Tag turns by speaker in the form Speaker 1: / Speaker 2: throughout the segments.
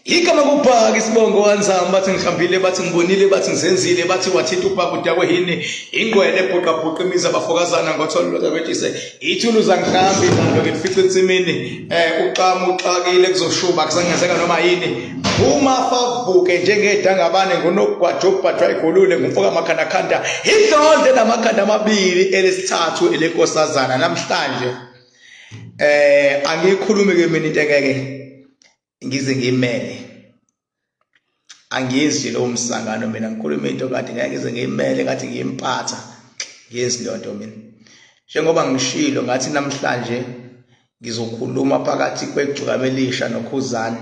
Speaker 1: igama kubhaka isibongo wanzama bathi ngihambile bathi ngibonile bathi ngizenzile bathi wathinta ubhaka udakwe yini ingqwele ebhuqabhuqa imizi abafokazana ngotholo lodabetise ithuluzi angihambi nalo ngilifice ensimini um uxama uxakile kuzoshuba kusangenzeka noma yini uma favuke njengedangabane ngunogwaja obhajwa igolule ngumfoka makhandakhanda idlonde namakhanda amabili elesithathu elenkosazana namhlanje eh angikhulumi ke mina into engeke ngize ngimele angizwi lo msangano mina ngikhuluma into kade ngeke ngize ngimele kade ngiyimpatha ngezi lonto mina njengoba ngishilo ngathi namhlanje ngizokhuluma phakathi kwegcukama elisha nokhuzani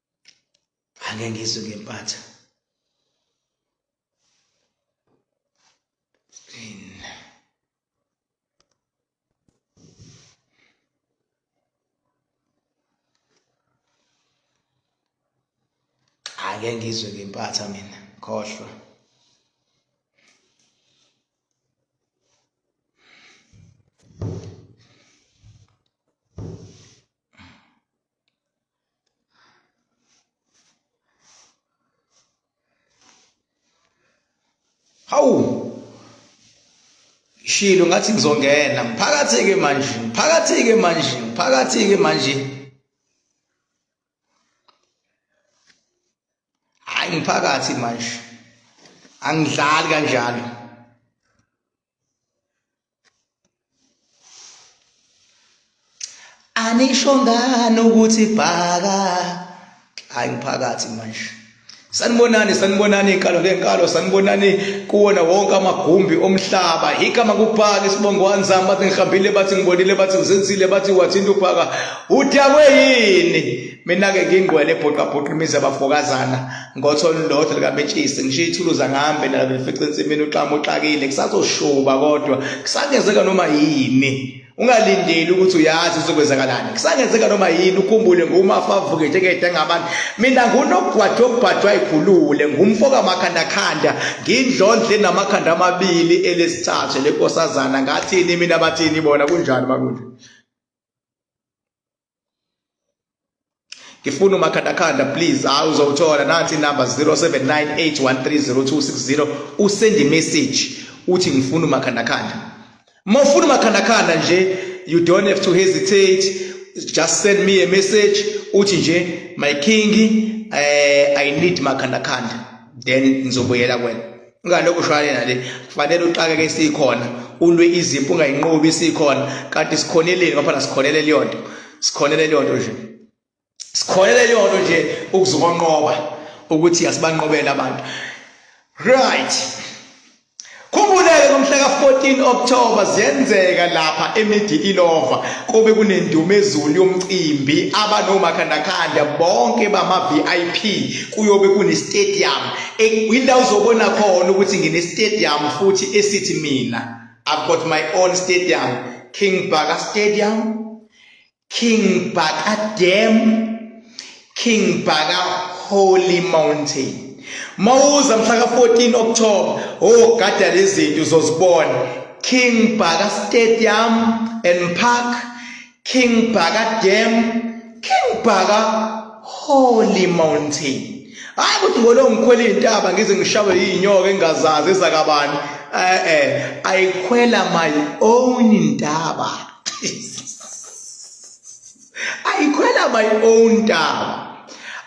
Speaker 1: ake ngizwe ngempatha ake ngizwe ngempatha mina khohlwa hawu shilo ngathi ngizongena ngiphakathi-ke manje ngiphakathi-ke manje ngiphakathi-ke manje hhayi ngiphakathi manje angidlali kanjalo anisho ngani ukuthi bhaka hayi umphakathi manje sanibonani sanibonani inkalo ngenkalo sanibonani kuwona wonke amagumbi omhlaba igama kubhaka isibongo wanzama bathi ngihambile bathi ngibonile bathi ngizenzile bathi wathinta ubhaka udakwe yini mina-ke ngingqwele ebhoqabhoqa imizi abafokazana ngothola ulodwa likabetshisi ngisho ithuluza ngihambe nalo lifice ensimini uxama uxakile kusazoshuba kodwa kusangenzeka noma yini ungalindeli ukuthi uyazi uzokwenzakalani kusangenzeka noma yini ukhumbule ngumafa avuke njengede ngabantu mina ngunogwadwa obhadwa ikhulule ngumfo kamakhandakhanda ngindlondle namakhanda amabili elesithathu lenkosazana ngathini mina bathini bona kunjani makunje ngifuna umakhandakhanda please hayi uzowuthola nathi inamba 0798130260 usend imessage uthi ngifuna umakhandakhanda uma ufuna umakhandakhanda nje you don't have to hesitate just send me a message uthi nje my king eh, i need makhandakhanda then ngizobuyela kwena ingane okushwale nale kufanele uxakeke sikhona ulwe izimpi ungayinqobi sikhona kanti sikhoneleni ngoba phela sikhonele leyo nto sikhonele leyo nto nje sikhonele leyo nto nje ukuzokonqoba ukuthi asibanqobele abantu right Khumbuleke ngomhla ka-14 October ziyenzeka lapha eMidi Ilova kube kunendumezulu yomcimbi abanomakhandakhanda bonke bama-VIP kuyobe kunestadium Indawo uzobona khona ukuthi ngine stadium futhi esithi mina I've got my own stadium King Baka Stadium King Baka Dam, King Baka Holy Mountain. Mawuza mhla ka-14 October, oh gada lezi zinto uzozibona. King Baka Stadium and Park, King Bhaka Dam, King Bhaka Holy Mountain. hayi ukuthi ngolo ngikhwela iy'ntaba ngize ngishawe yiy'nyoka engingazazi ezakabani e-e i khwela my own ntaba ayikhwela my own ntaba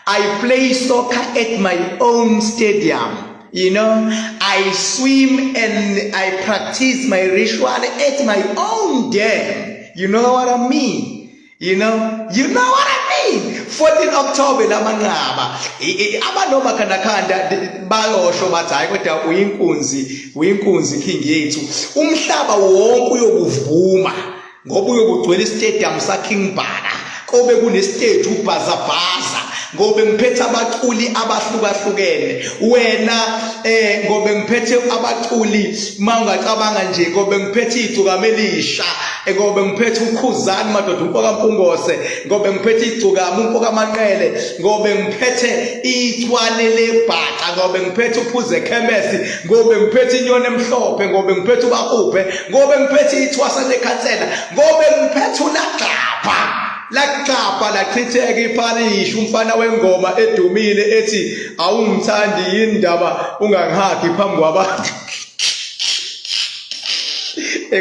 Speaker 1: I play soccer at my own stadium. You know, I swim and I practice my ritual at my own dam. You know what I mean? You know, you know what I mean? 14 October lamanqaba abanoma kanakhanda bayosho bathi hayi kodwa uyinkunzi uyinkunzi king yethu umhlaba wonke uyokuvuma ngoba uyokugcwela istadium saKing Bhaka kobe kunestage ubhazabhaza ngobe ngiphethe abaculi abahlukahlukene wena eh ngobe ngiphethe abaculi mawungacabanga nje ngobe ngiphethe igcuka melisha eh, ngobe ngiphethe ukhuzani madoda umfoka mpungose ngobe ngiphethe igcuka umfoka manqele ngobe ngiphethe ichwane lebhaca ngobe ngiphethe uphuze khemesi ngobe ngiphethe inyoni emhlophe ngobe ngiphethe ubakuphe ngobe ngiphethe ithwasa lekhansela ngobe ngiphethe ulagxapha lagxapha lachitheka iparishi umfana wengoma edumile ethi awungithandi yindaba ungangihagi phambi kwabantu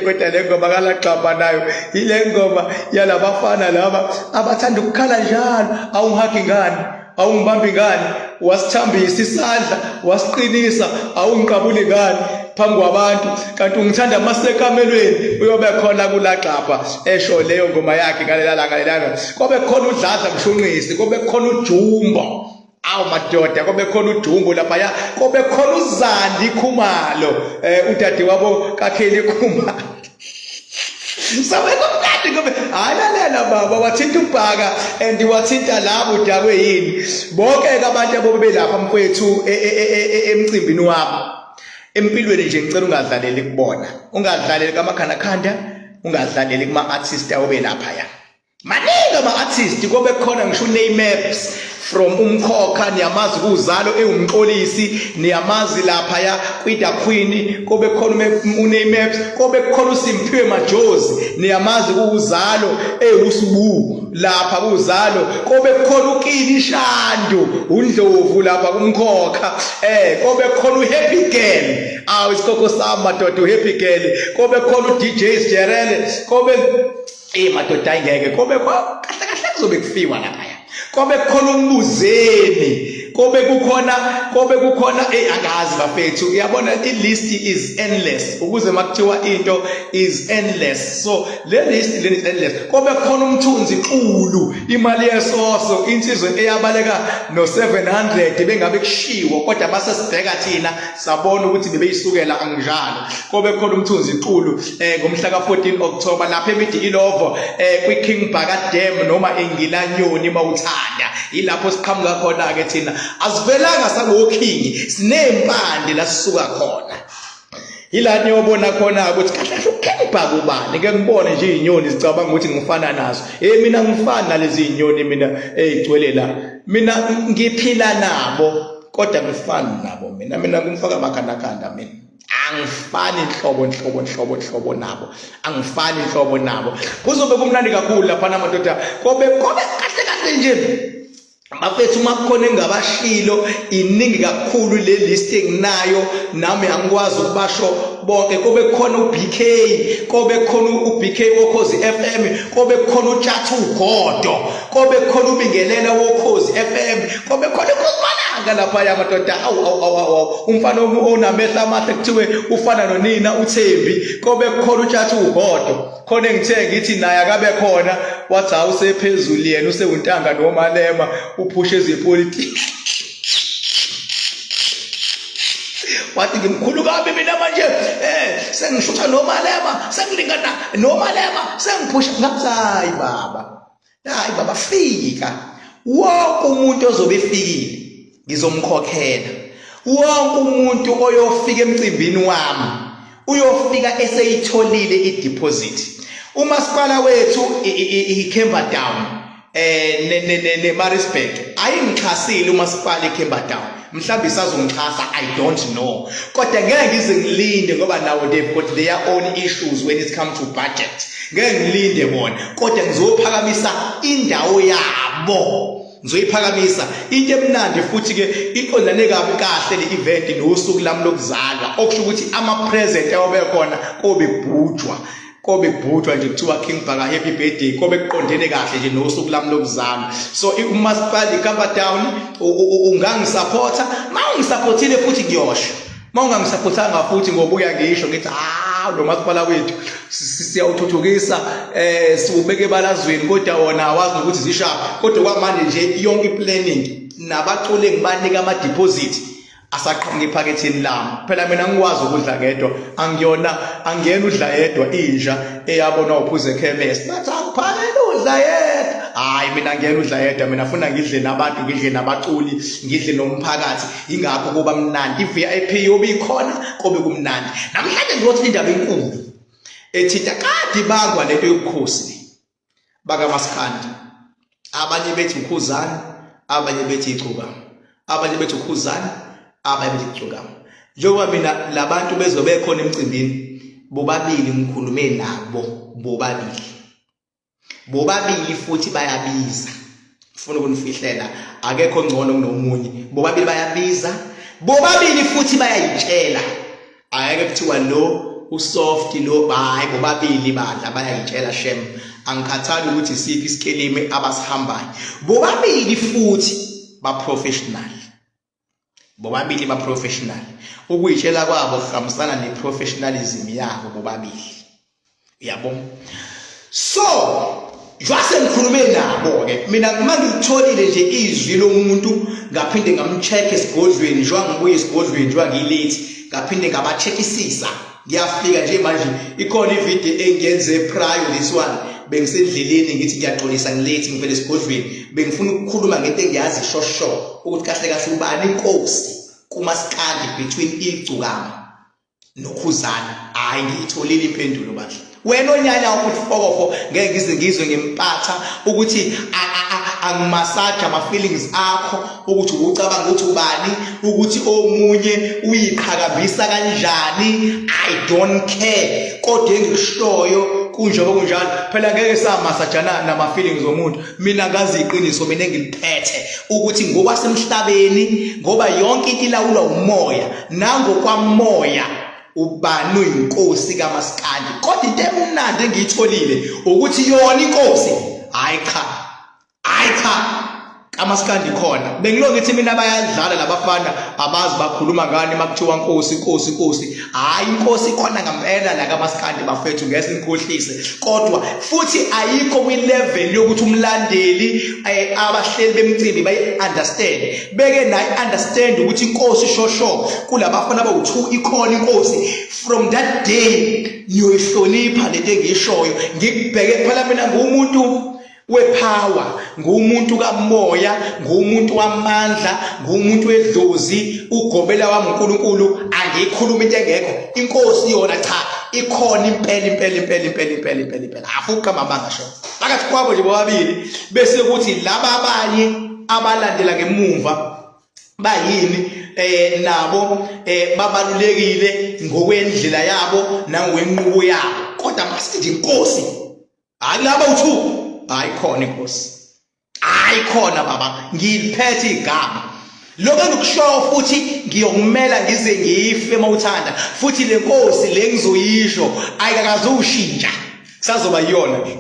Speaker 1: kodwa le ngoma kalagxabha nayo yile ngoma yalabafana laba abathanda ukukhala njalo awungihagi ngani awungibambi ngani wasithambisa isandla wasiqinisa awungiqabuli ngani phambi kwabantu kanti ungithanda amasekamelweni uyobe khona kulagxabha esho leyo ngoma yakhe ngalela langa lelanga kobe khona udladla mshunqisi kobe khona ujumbo awu madoda kobe khona udumbu laphaya kobe khona uzandi khumalo um udade wabo kakheli khumalo saweka mkade ngobe hayi lalela baba wathinta ubhaka and wathinta labo udakwe yini bonke ke abantu abobe belapha mfowethu e, e, e, emcimbini wabo empilweni nje ngicela ungadlaleli kubona ungadlaleli kamakhandakhanda ungadlaleli kuma-artist awube lapha ya maningi ama-artist kobe khona ngisho uneymaps from umkhokha niyamazi kuzalo ewumxolisi niyamazi laphaya kwida queen kobe khona uneymaps kobe khona usimphiwe majozi niyamazi kuzalo ewusibu lapha kuzalo kobe khona ukini ishandu undlovu lapha kumkhokha eh kobe khona uhappy girl awu isikhokho sami madoda uhappy girl kobe khona udj sjerele kobe Ey madoda ayingeke kobe kahle kahle kuzobe kufiwa lapha ya. Kobe kukhona umbuzeni. Kobe kukhona kobe kukhona ey angazi bafethu. Uyabona i list is endless ukuze makuthiwa into is endless. So le list le is endless. Kobe kukhona umthunzi xulu imali yesoso insizwe eyabaleka no 700 bengabe kushiwo kodwa base sibheka thina sabona ukuthi bebeyisukela anginjalo kobe khona umthunzi iqulu eh ngomhla ka14 October lapha eMidikilovo eh kwiKing Bhaka Dam noma eNgilanyoni mawuthanda ilapho siqhamuka khona ke thina asivelanga sakoKing sinempande la sisuka khona yila niyobona khona ukuthi kahle kahle ukhipha kubani ke ngibone nje izinyoni zicabanga ukuthi ngifana nazo hey mina ngifana nalezi zinyoni mina ezigcwele la mina ngiphila nabo kodwa ngifani nabo mina mina kumfaka amakhandakanda mina angifani nhlobo nhlobo nhlobo nhlobo nabo angifani nhlobo nabo kuzobe kumnandi kakhulu lapha namadoda kobe kobe kahle kahle nje bafethu uma kukhona engabashilo iningi kakhulu le list enginayo nami angikwazi ukubasho bonke kobe khona uBK kobe khona uBK wokhozi FM kobe khona uTshathu Godo kobe khona ubingelela wokhozi FM kobe khona ikhozimalanga lapha ya madoda awu awu awu awu umfana onamehla amahle kuthiwe ufana nonina uThembi kobe khona utshatha uhodo khona engithe ngithi naye akabe khona wathi hawu sephezulu yena usewuntanga nomalema uphushe ezepolitiki wathi ngimkhulu kabi mina manje eh sengishutha nomalema sengilingana nomalema sengiphusha ngathi hayi baba hayi baba fika wonke umuntu ozobe efikile ngizomkhokhela wonke umuntu oyofika emcimbini wami uyofika eseyitholile ideposit umasipala wethu iCamberdown eh ne ne ne Maritzburg ayingixhasile umasipala eCamberdown mhlawumbe isazongixhasa i don't know kodwa ngeke ngize ngilinde ngoba nawo they've got their own issues when it comes to budget ngeke ngilinde bona kodwa ngizophakamisa indawo yabo ngizoyiphakamisa into emnandi futhi ke iqondane kabi kahle le event nosuku lami lokuzalwa okusho ukuthi ama present ayobe khona kobe bhujwa kobe kubhujwa nje kuthiwa King Bhaka happy birthday kobe kuqondene kahle nje nosuku lami lokuzalwa so umasipala iKapa Town ungangisupporta mawungisupportile futhi ngiyosho mawungangisupportanga futhi ngobuya ngisho ngithi ah lo masipala wethu siyawuthuthukisa eh siwubeke balazweni kodwa wona awazi ukuthi zishapha kodwa kwamanje nje yonke planning nabaculi ngibanika ama deposit asaqhamuka ephaketheni lami phela mina ngikwazi ukudla ngedwa angiyona angiyena udla yedwa inja eyabona uphuze ekhemesi bathi akuphakela udla yedwa hayi mina ngiyena udla yedwa mina funa ngidle nabantu ngidle nabaculi ngidle nomphakathi ingakho kuba mnandi i-vip yobe ikhona kobe kumnandi namhlanje ngizothi indaba enkulu ethinta kade ibangwa lento yobukhosi bakamaskandi abanye bethi ukhuzani abanye bethi icuka abanye bethi ukhuzani abanye bethi icuka njengoba mina labantu bezobe khona emcimbini bobabili ngikhulume nabo bobabili bobabili futhi bayabiza ufuna ukunifihlela akekho ngcono kunomunye bobabili bayabiza bobabili futhi bayayitshela ayeke kuthiwa lo usoft lo hayi bobabili badla bayayitshela shem angikhathali ukuthi siphi isikelimi abasihambayo bobabili futhi ba professional bobabili ba professional ukuyitshela kwabo kuhambisana ne professionalism yabo bobabili yabo so jwase ngikhulume nabo ke mina uma ngitholile nje izwi lomuntu ngaphinde ngamcheck esigodlweni njengoba ngibuye esigodlweni njengoba ngilate ngaphinde ngabachekisisa ngiyafika nje manje ikhona ivideo engiyenze prior this one bengisendleleni ngithi ngiyaxolisa ngilethi ngivele esigodlweni bengifuna ukukhuluma ngento engiyazi shosho ukuthi kahle kahle ubani inkosi kumasikandi between igcukama nokhuzana hayi ngiyitholile impendulo bandla wena onyanya wakho uthi fokofo ngeke ngize ngizwe ngempatha ukuthi angimassage ama-feelings akho ukuthi ukucabanga ukuthi ubani ukuthi omunye uyiqhakambisa kanjani i don't care kodwa engikushoyo kunjengoba kunjalo phela ngeke samasajana nama-feelings omuntu mina ngazi iqiniso mina engiliphethe ukuthi ngokwasemhlabeni ngoba yonke into ilawulwa umoya nangokwamoya ubani uyinkosi kamaskandi kodwa into emnandi engiyitholile ukuthi yona inkosi hayi cha hayi cha kamaskandi khona bengilo ngithi mina bayadlala labafana abazi bakhuluma ngani makuthiwa nkosi nkosi nkosi hayi inkosi khona ngempela la kamaskandi bafethu ngeke nikhohlise kodwa futhi ayikho kwi level yokuthi umlandeli eh, abahleli bemcimbi bayi understand beke nayi understand ukuthi inkosi shosho kulabafana bawu2 ikhona inkosi from that day niyoyihlonipha lento engishoyo ngikubheke phela mina ngumuntu wepower ngumuntu kamoya ngumuntu wamandla ngumuntu wedlozi ugobela wami uNkulunkulu angikhuluma into engekho inkosi yona cha ikhona impela impela impela impela impela impela impela afuqa mama ngasho phakathi kwabo nje bobabili bese kuthi laba abanye abalandela ngemumva bayini eh nabo eh babalulekile ngokwendlela yabo nangokwenqubo yabo kodwa masithi inkosi hayi laba uthu hayi khona inkosi hayi khona baba ngiliphethe igama lokho engikushoyo futhi ngiyokumela ngize ngife uma uthanda futhi le nkosi le ngizoyisho ayikakazushintsha sazoba yiyona ke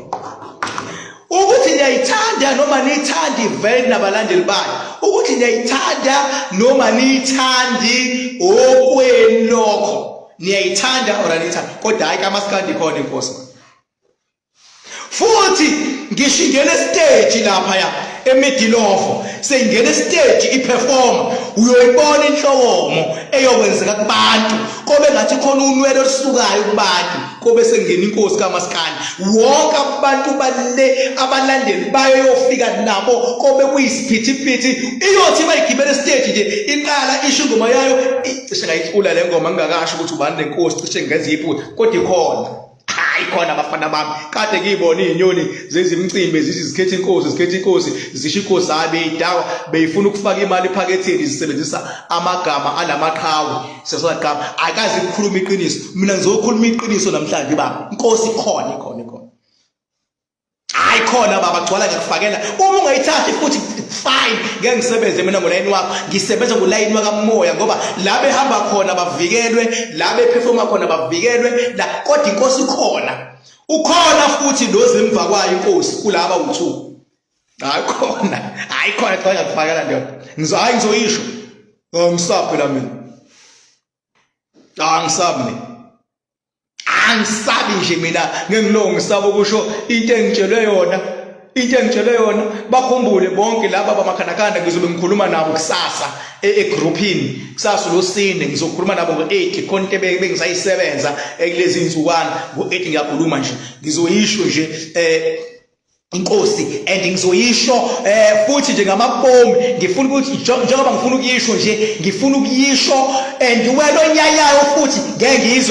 Speaker 1: ukuthi niyayithanda noma niyithanda ivele nabalandeli bayo ukuthi niyayithanda noma niyithandi okwenu lokho niyayithanda or aniyithandi kodwa hhayi kamasikandi khona inkosi futhi ngisho ingena esiteji lapha ya emidilofo seyingena esiteji iperforma uyoyibona inhlokomo eyokwenzeka kubantu kobe ngathi khona unwele olusukayo kubantu kobe sengena inkosi kamaskandi wonke abantu bale abalandeli bayo yofika nabo kobe kuyisiphithiphithi iyothi bayigibela esiteji nje iqala isho ingoma yayo cishe ngayicula le ngoma ngingakasho ukuthi ubani lenkosi cishe ngenza iphutha kodwa ikhona hayi khona abafana bami kade ngiyibona izinyoni zezimcimbi zithi zikhetha inkosi zikhetha inkosi zisho inkosi hayi beyidawa beyifuna ukufaka imali ephaketheni zisebenzisa amagama alamaqhawe sesaqhawe akazi ukukhuluma iqiniso mina ngizokhuluma iqiniso namhlanje baba inkosi ikhona ikhona ikhona hayi khona baba gcwala ngiyakufakela uma ungayithathi futhi fine ngeke ngisebenze mina ngolayini wakho ngisebenza ngolayini wakamoya ngoba la behamba khona bavikelwe la bephefoma khona bavikelwe la kodwa inkosi khona ukhona futhi lozimva kwayo inkosi kulaba uthu hayi khona hayi khona cha ngiyakufakela ndoda ngizohayi ngizoyisho ngisaphela mina angisabi mina angisabi nje mina ngengilo ngisaba ukusho into engitshelwe yona into engitshelwe yona bakhumbule bonke laba bamakhandakhanda ngizobe ngikhuluma nabo kusasa e, egroupini kusasa losine ngizokhuluma nabo ngo-8 khona into bengisayisebenza kulezi nzukwana ngo-8 ngiyakhuluma nje ngizoyisho nje um inkosi and ngizoyisho eh futhi nje ngamabomu ngifuna ukuthi njengoba ngifuna ukuyisho nje ngifuna ukuyisho and wena onyayayo futhi ngeke ngizwe